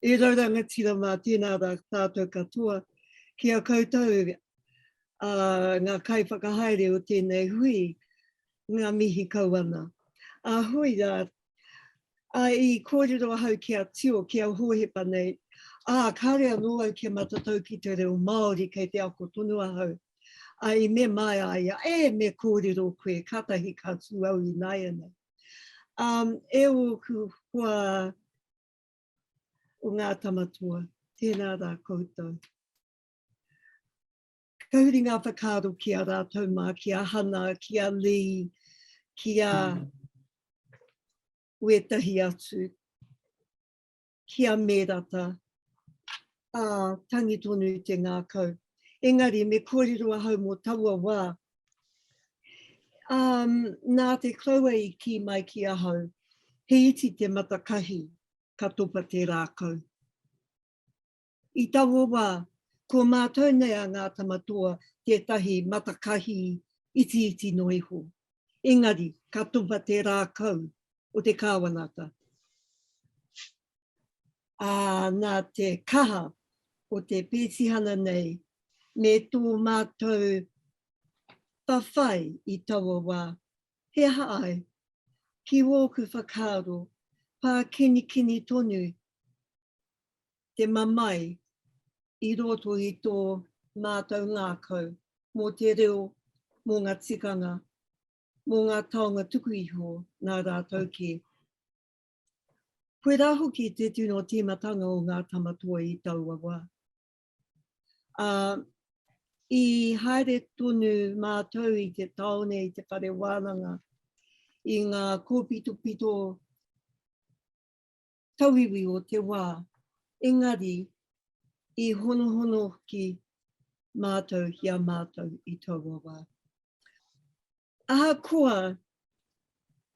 E rau rangatira mā tēnā rā tātou katoa ki a koutou a ngā kaiwhakahaere o tēnei hui ngā mihi kau ana. A hui rā, a i kōrero ahau ki a Tio, ki a Hohepa nei, ā, kāre anō au kia matatau ki te reo Māori kei te ako tonu ahau. A i mema ai a ia, ē, me kōrero koe, kātahi ka tū au ināianei. Ā, e ōku hoa o ngā tamatoa, tēnā rā koutou. Ka huri ngā whakaaro ki a rātou mā, ki a Hana, ki a Lee, ki a wētahi atu, ki a Mērata, ā, tangi tonu te ngākau. Engari, me kōrero ahau mō taua wā. Um, nā te kraua i kī mai ki ahau, he iti te matakahi, ka topa te rākau. I taua wā, ko mātou nei a Ngā Tamatoa tētahi matakahi iti iti no iho. Engari, ka topa te rākau o te kāwanata. ā, nā te kaha o te pētihana nei me tō mātou whawhai i taua wā, he aha ai? Ki ōku whakaaro, pākinikini tonu te mamae i roto i tō mātou ngākau mō te reo, mō ngā tikanga, mō ngā taonga tuku iho nā rātou kē. Koirā hoki te tino tīmatanga o Ngā Tamatoi i taua wā. Ā, i haere tonu mātou i te tāone, i te whare wānanga, i ngā kōpitopito tauiwi o te wā, engari i honohono ki mātou, ki a mātou i taua wā. Ahakoa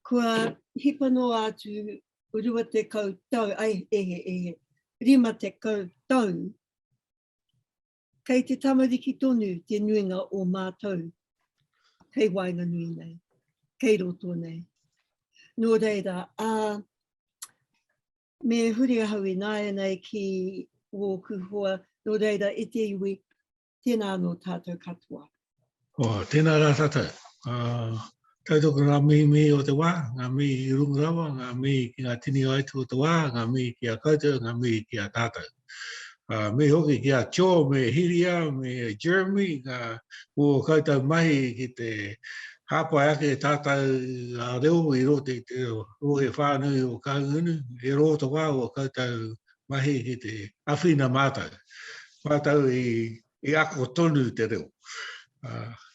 kua hipa noa atu 20 tau, ai e he e he, 50 tau, kei te tamariki tonu te nuinga o mātou kei waenganui nei, kei roto nei. Nō reira, ā, me huri ahau ināianei ki wōku hoa, nō reira e te iwi, Tēnā anō tātou katoa. Oh, tēnā rā tātou. Uh, tautoko ngā mihi mihi o te wā, ngā mihi i runga rawa, ngā mihi ki ngā tini aitu o te wā, ngā mihi ki a koutou, ngā mihi ki a tātou. Uh, me hoki ki a Tio, me Hiria, me Jeremy, ngā o koutou mahi ki te hāpai ake tātou a reo i rote te rohe whānui o Kaungunu, e rō te wā o koutou mahi ki te awhina mātou, mātou i ako tonu te reo.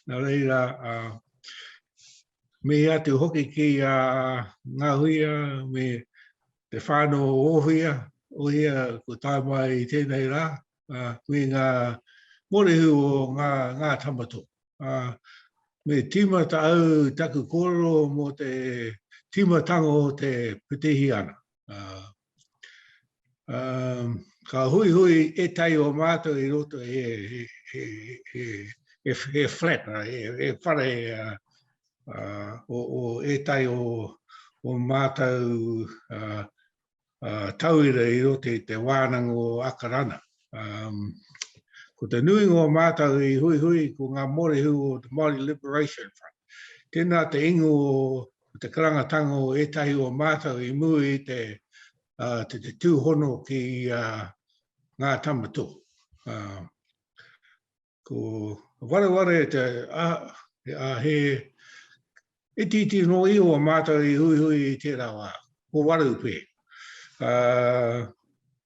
Nā reira, mihi atu hoki ki a Ngahuia me te whānau o Ōhia, Ōhia kua tae mai i tēnei rā, me ngā mōrehu o ngā, ngā tama tō. Me tīmata au taku kōrero mō te tīmatanga o te Pitihiana. Um, ka hui hui e tai o mātou i roto e, e, e, e, e, e flat, e, e whare uh, uh, o, o e tai o, o mātou uh, uh, tauira i roto i te wānanga o Akarana. Um, ko te nui ngō mātou i hui hui ko ngā morihu o The Māori Liberation Front. Tēnā te ingo o Ko te karangatanga o ētahi o mātou i mua i te te tūhono ki ngā tamato. Ko wareware te a he itiiti nō iho a mātou i huihui i tērā wā, ko Wareupe.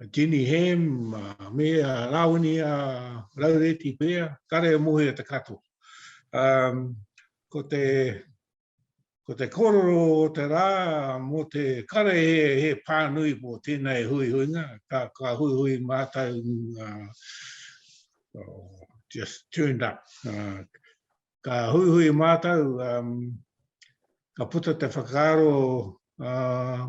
a Jenny Ham, a me a Rawini a Raureti Pea, kare mohi a te katoa. Um, ko te ko te kororo o te rā mō te kare he, he pānui mō tēnei hui hui nga, ka, ka hui hui mātou uh, oh, just turned up. Uh, ka hui hui mātou, um, ka puta te whakaaro uh,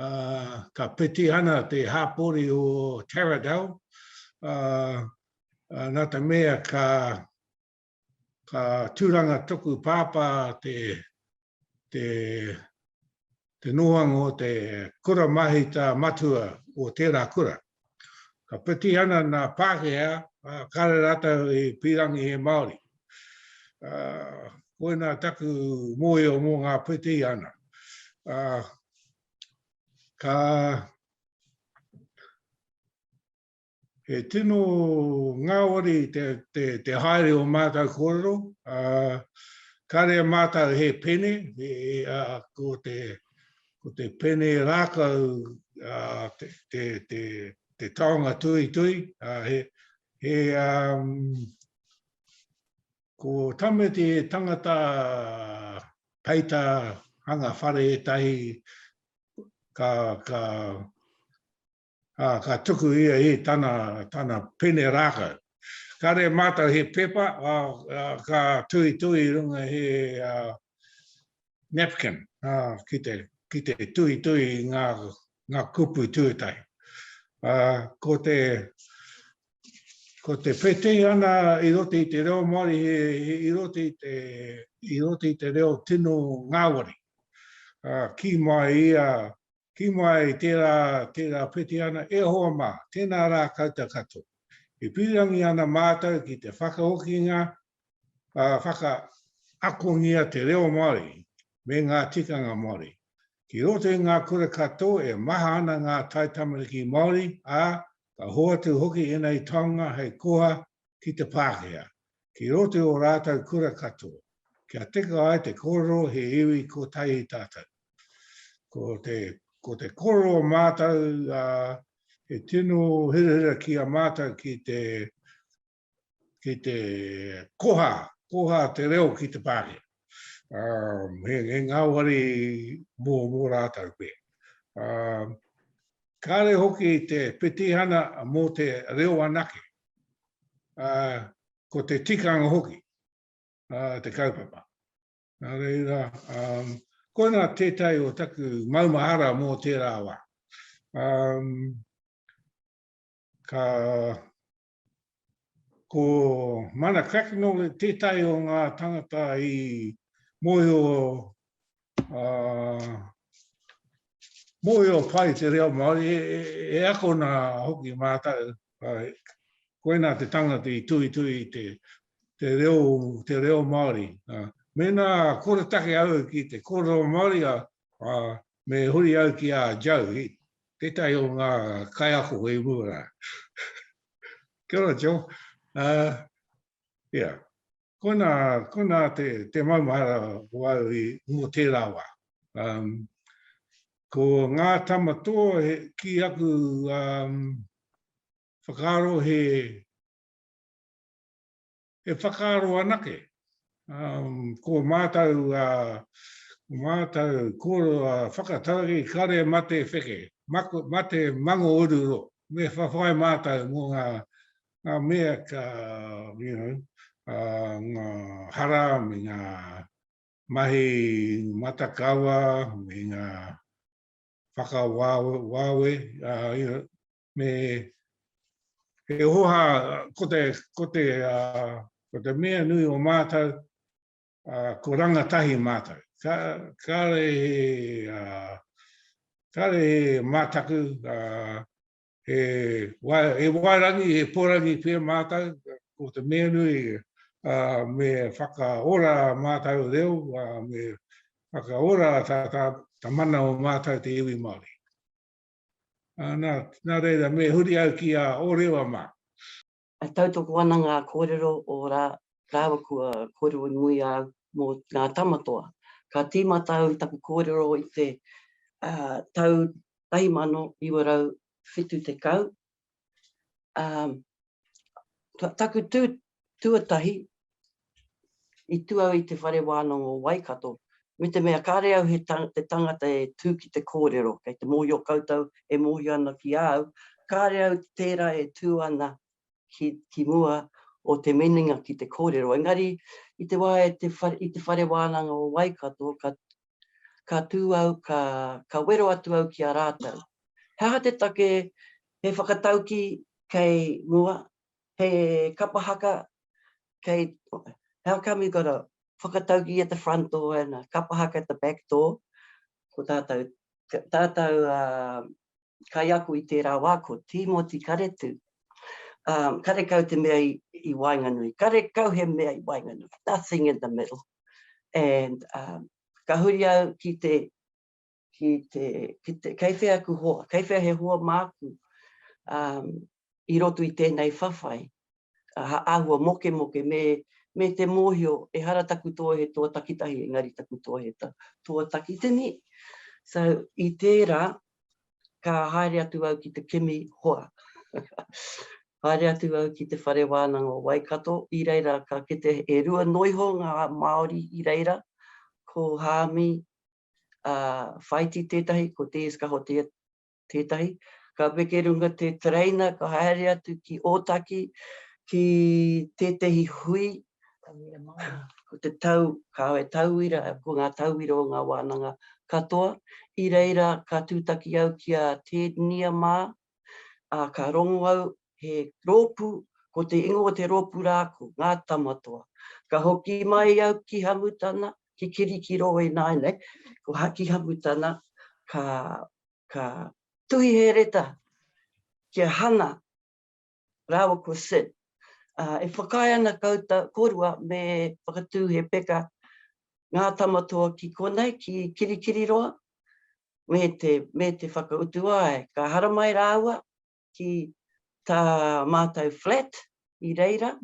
Uh, ka peti ana te hāpori o Taradell. Uh, uh, nā te mea ka, ka tūranga toku pāpā te, te, te noanga o te kura mahita matua o tērā kura. Ka piti ana nā Pākehā, ā, kāre rātou i pīrangi e Māori. Ā, koinā taku mōhio mō ngā piti ana. Ā, ka... He tino ngāwari te, te, te haere o mātou kōrero. Ā, kāre mātou he pene, e, ā, ko te, ko te pene rākau te taonga tuitui, he ko Tameti he tangata peita hanga whare ētahi ka Ā, ka tuku ia i tana, tana pene rākau. Kāre e mātau he pepa, ā, ā, ka tuitui i runga he, ā, napkin, ā, ki te, ki te tuitui i ngā, ngā kupu tuatahi. Ā, ko te, ko te pētehi ana i roto i te reo Māori he, he i roto i te, i roto i te reo tino ngāwari. Ā, kī mai ia, Ki mai tērā, tērā Petiana, e hoa mā, tēnā rā koutou katoa. E pīrangi ana mātou ki te whakahokinga, ā, whakaakongia te reo Māori me ngā tikanga Māori. Ki roto i ngā kura katoa e maha ana ngā taitamariki Māori, ā, ka hoatu hoki ēnei taonga hei koha ki te Pākehā, ki roto i ō rātou kura katoa, kia tika ai te kōrero he iwi kotahi tātou. Ko te, ko te kōrero o mātou, ā, he tino hirahira ki a mātou ki te, ki te koha, koha te reo ki te Pākehā. Um, he, he ngāwari mō, mō rātau koe. Um, kāre hoki te petihana mō te reo anake. Uh, ko te tikanga hoki, uh, te kaupapa. Nā reira, um, koina tētai o taku maumahara mō tērā wā. Um, ka, Ko Mana Cracknell tētahi o ngā tangata i mōhio, mōhio pai i te reo Māori, e akona hoki mātou, koinā te tangata i tuhituhi i te reo, te reo Māori. Mēnā koretake au ki te kōrero Māori, Ā, me huri au ki a Joe, tētahi o ngā kaiako i mua rā. Kia ora, Joe. Ā, ia, koinā, koinā te, te maumahara o au i, mō tērā wā. Um, ko ngā tama toa he, ki aku um, whakaaro he, e whakaaro anake. Ko mātou, ko mātou, ko whakatau i kare mate wheke, mate mango oruro, me whawhai mātou mō ngā ngā mea ka, you know, ngā hara me ngā mahi matakawa, me ngā whakawāwe, you know, me he oha ko te ko te uh, ko te mea nui o mātou uh, ko rangatahi mātou ka ka re uh, ka re mātaku uh, e wa e warangi e porangi pe mātou ko te mea nui uh, me whakaora mātou reo uh, me whakaora ta ta ta mana o mātou te iwi Māori Nā, nā reira, me huri au ki a Ōrewa mā. E tautoko ana ngā kōrero o rā, rāua kua kōrero i muri a au mō Ngā Tamatoa. Ka tīmata au i taku kōrero i te tau 1970, Um, taku tū tuatahi i tū au i te whare wānanga o Waikato, me te mea kāre au he tang, te tangata e tū ki te kōrero, kei te mōhio koutou e mōhio ana ki a au, kāre au tērā e tū ana ki, ki mua o te meninga ki te kōrero. Engari, i te wā e te whare, i te whare wānanga o Waikato, ka, ka tū au ka, ka wero atu au ki a rātou. He aha te take he whakatauki kei mua, he kapa haka kei, how come you got a whakatauki at the front door and a kapa haka at the back door, ko tātou, tātou kaiako i tērā wā ko Tīmoti Karetū, karekau te mea i waenganui, karekau he mea i waenganui, nothing in the middle. and um, ka huri au ki te, ki te, ki te kei whea aku hoa, kei whea he hoa māku um, i roto i tēnei whawhai, uh, āhua moke moke, me, me te mōhio, e hara taku tō he tō takitahi, engari taku tō he tō takitini. So, i tērā, ka haere atu au ki te kimi hoa. Haere atu au ki te whare wānanga o Waikato, i reira ka kite e rua noa iho ngā Māori i reira, ko Haami Whaiti tētahi, ko Te Eskaho tētahi. Ka weke runga te tereina, ka haere atu ki Ōtaki, ki tētahi hui Ko te tau, kāore he tauira, ko ngā tauira o ngā wānanga katoa. I reira ka tūtaki au ki a Ted Nia mā, ā, ka rongo au he rōpū, ko te ingoa o te rōpū rā ko Ngā Tamatoa. Ka hoki mai au ki Hamutana, ki Kirikirō ināianei, ko Haki Hamutana, ka, ka tuhi he reta ki a Hana, rāua ko Sid. E whakaae ana koutou korua me whakatū he peka Ngā Tama Toa ki konei, ki Kirikiriroa, me te whakautu ai, ka haramai rāua ki tā mātou flat i reira,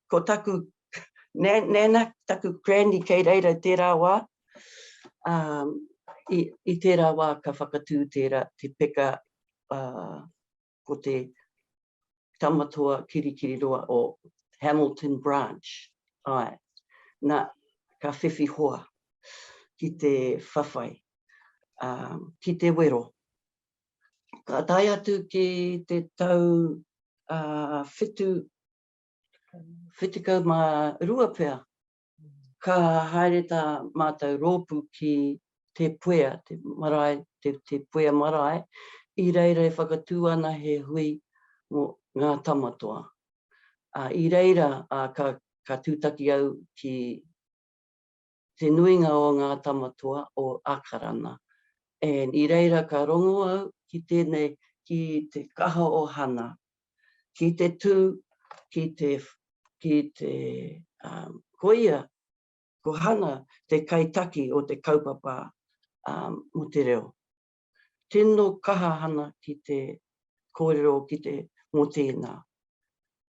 ko taku nana, taku granny kei reira i tērā wā, i tērā wā ka whakatū tērā te peka ko te tama toa kirikiriroa o Hamilton Branch, ae, na, ka whiwhi hoa ki te whawhai, a, ki te wero. Ka tae atu ki te tau a, whitu, whitu kau ma rua pea, Ka haere tā mātou rōpū ki Te Puea, te marae, te puea marae, i reira e whakatū ana he hui mō Ngā Tamatoa. Ā, i reira, ā, ka, ka tūtaki au ki te nuinga o Ngā Tamatoa o Ākarana. And i reira ka rongo au ki tēnei, ki te kaha o Hana. ki te tū, ki te, ki te um, koia, ko Hana te kaitaki o te kaupapa um, mo te reo. Tino kaha Hana ki te kōrero ki te mo tēnā.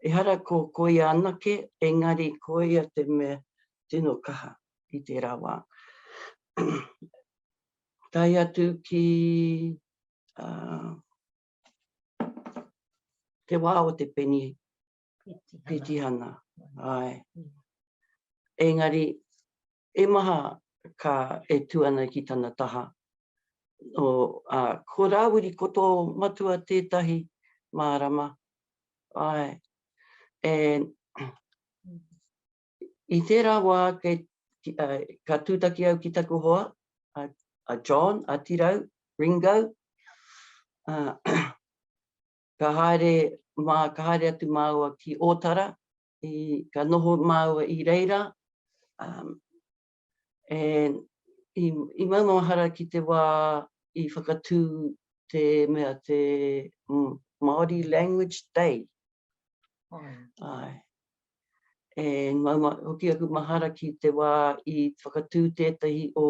Ehara ko koia anake, engari koia te me tino kaha i tērā wā. tai atu ki uh, Te wā o te peni petihana. Ai. Engari, e maha ka e tu ana ki tana taha. O, a, ko Rāwiri, ko tō matua tētahi mārama. Ai. And, I tērā wā kei, ka tūtaki au ki taku hoa, a, a John, a Tirau, Ringo, uh, ka haere, mā, ka haere atu māua ki Ōtara, i, ka noho māua i reira, um, And i, i maumaumahara ki te wā i whakatū te mea te mm, Māori Language Day. Ai. Ai. E mauma, hoki aku mahara ki te wā i whakatū tētahi o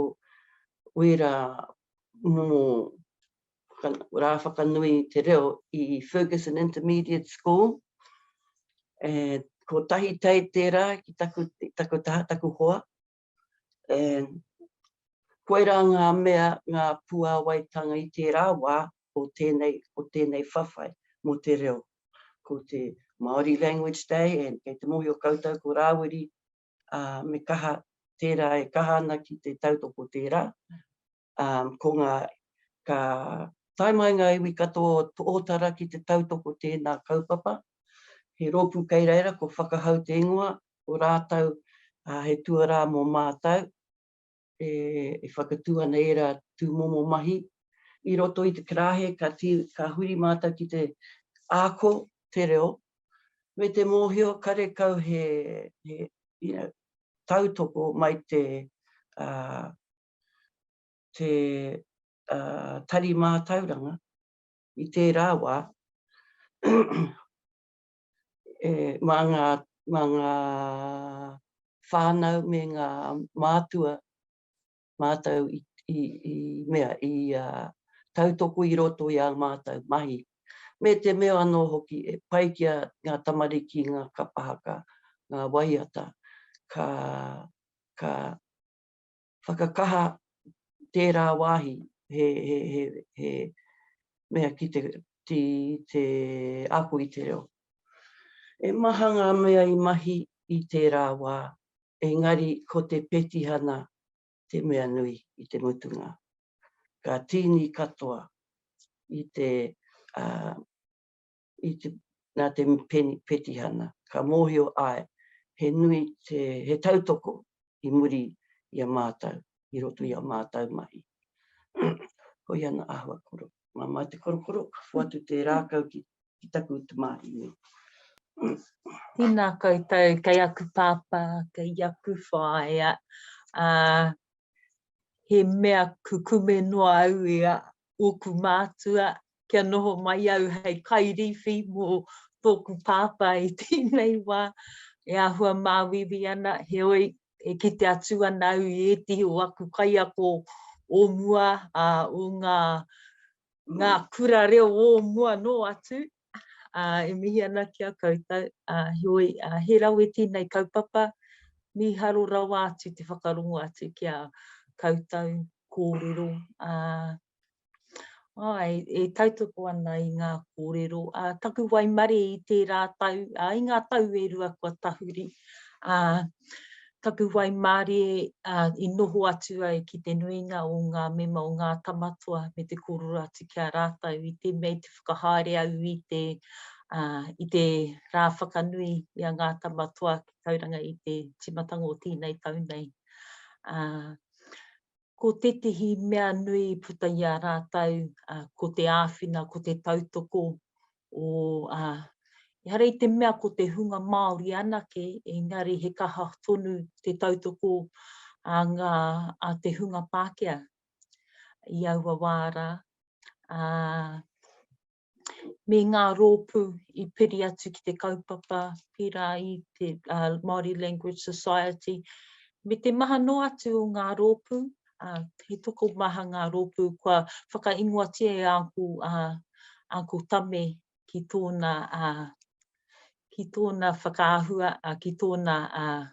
wērā momo rā whakanui i te reo i Fergusson Intermediate School. E, ko tahi tei tērā ki taku, taku taha, taku hoa. E, koirā ngā mea, ngā puāwaitanga i tērā wā o tēnei, o tēnei whawhai mō te reo. Ko te Māori Language Day, e, kei te mōhio koutou ko Rāwiri, a, me kaha tērā e kaha ana ki te tautoko tērā. ko ngā, ka tae mai ngā iwi katoa o Ōtara ki te tautoko o tēnā kaupapa. He rōpū kei reira ko Whakahau te Ingoa, ko rātou he tuarā mō mātou, e whakatū ana ērā tūmomo mahi. I roto i te karāhe ka huri mātou ki te ako te reo, me te mōhio karekau he tautoko mai te te tari mātauranga i tērā wā mā ngā mā ngā whānau me ngā mātua mātou i i i mea i tautoko i roto i ā mātou mahi me te mea anō hoki e pai ki a ngā tamariki ngā kapa haka ngā waiata ka ka whakakaha tērā wāhi, he, he, he, he mea ki te, ki te ako i te reo. E maha ngā mea i mahi i tērā wā, engari ko te petihana te mea nui i te mutunga. Ka tīni katoa i te uh, i te, nā te petihana, ka mōhio āe, he nui te, he tautoko i muri i a mātau, i roto i a mātau mahi. Hoi ana āhua koro. Mā mā te korokoro, ka whoatu te rākau ki, ki taku te māhi nei. Tēnā koutou, kei aku pāpā, kei aku whaea, ā, he mea kukume noa au i a ōku mātua, kia noho mai au hei kairīwhi mō tōku pāpā i tēnei wā e āhua māuiui ana, heoi, e kite atu ana au i ētehi o aku kaiako o mua, ā, o ngā, ngā kura reo o mua nō atu, ā, e mihi ana ki a koutou, ā, heoi, ā, he rawe tēnei kaupapa, mīharo rawa atu te whakarongo atu ki a koutou kōrero, ā. Āe, e tautoko ana i ngā kōrero. Ā, taku waimarie i tērā tau, ā, i ngā tau e rua kua tahuri, ā, taku waimarie, ā, i noho atu ai ki te nuinga o ngā mema o Ngā Tamatoa me te kōrero atu ki a rātou i te mea i te whakahaere au i te, ā, i te rā whakanui i a Ngā Tamatoa ki Tauranga i te tīmatanga o tēnei tau nei. Ā, Ko tētehi mea nui i puta i a rātou, ko te āwhina, ko te tautoko o, ehara i te mea ko te hunga Māori anake, engari he kaha tonu te tautoko a ngā, a te hunga Pākehā i aua wā rā. me ngā rōpū i piri atu ki te kaupapa, pērā i te uh, Māori Language Society, me te maha noa atu o ngā rōpū, uh, he toko maha ngā rōpū kua whakaingoatia e āku, uh, āku tame ki tōna, uh, ki tōna whakaahua, uh, ki tōna uh,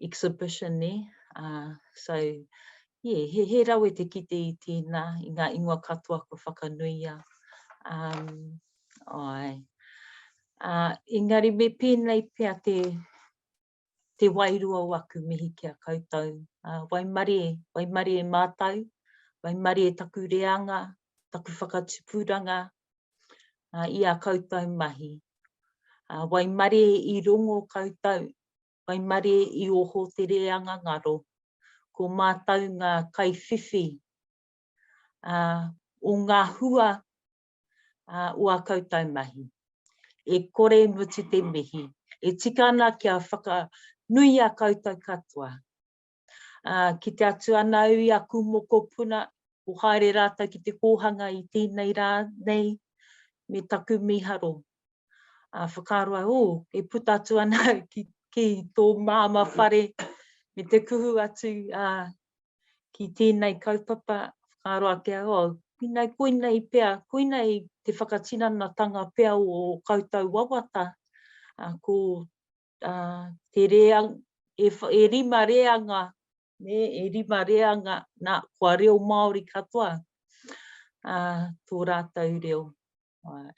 exhibition nē, ā, so, yeah, he, he rawe te kite i tēnā, i ngā ingoa katoa kua whakanuia. Um, āe. Ā, engari me pēnei pea te, te wairua o aku mihi ki a koutou. Ā, waimarie, waimarie mātou, waimarie taku reanga, taku whakatupuranga, uh, i a koutou mahi. Uh, waimare i rongo koutou, waimare i oho te reanga ngaro, ko mātou ngā kaiwhiwhi uh, o ngā hua uh, o a koutou mahi. E kore mutu te mihi, e tika ana kia whaka nui a koutou katoa. Ā, kite atu ana au i aku mokopuna, kua haere rātou ki te kōhanga i tēnei rā nei me taku mīharo. Ā, whakaaro au, ō, e puta atu ana au ki, ki tō māmā whare, me te kuhu atu, ā, ki tēnei kaupapa, whakaaro ake au, ō, koinei, koinei pea, koinei te whakatinanatanga pea o ō koutou wawata, ā, ko uh, te reang, e, e rima reanga, ne, e rima reanga, na, kua reo Māori katoa uh, tō rātou reo. Uh,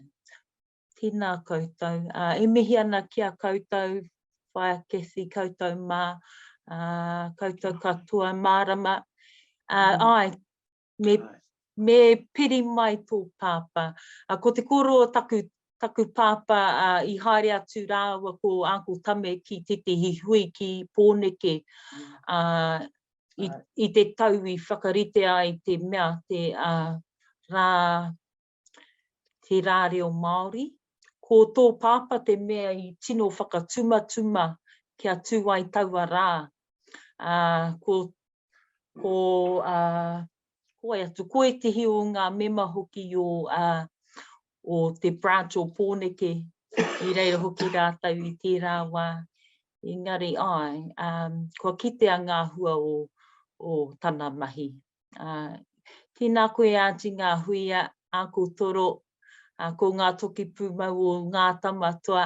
tēnā koutou. Uh, e mihi ana ki a koutou, whaia Kathy, koutou mā, uh, koutou katoa, mārama. Uh, mm. Ai, me, me piri mai tō pāpā. A, ko te kōrero o taku, taku pāpā a, i haere atu rāua ko Uncle Tame ki tētehi hui ki Pōneke a, i, i te tau i whakarite ai te mea, te a, rā, Te Rā Reo Māori, Ko tō pāpā te mea i tino whakatumatuma kia tū ai taua rā, ā, ko, ko, ā, ko wai atu, ko ētehi o ngā mema hoki o, ā, o te Branch o Pōneke, i reira hoki rātou i tērā wā, engari āe, ā, kua kitea ngā hua o, o tana mahi. Tēnā koe Aunty ngā hui a Uncle Toro, ko ngā toki pūmau o Ngā Tamatoa,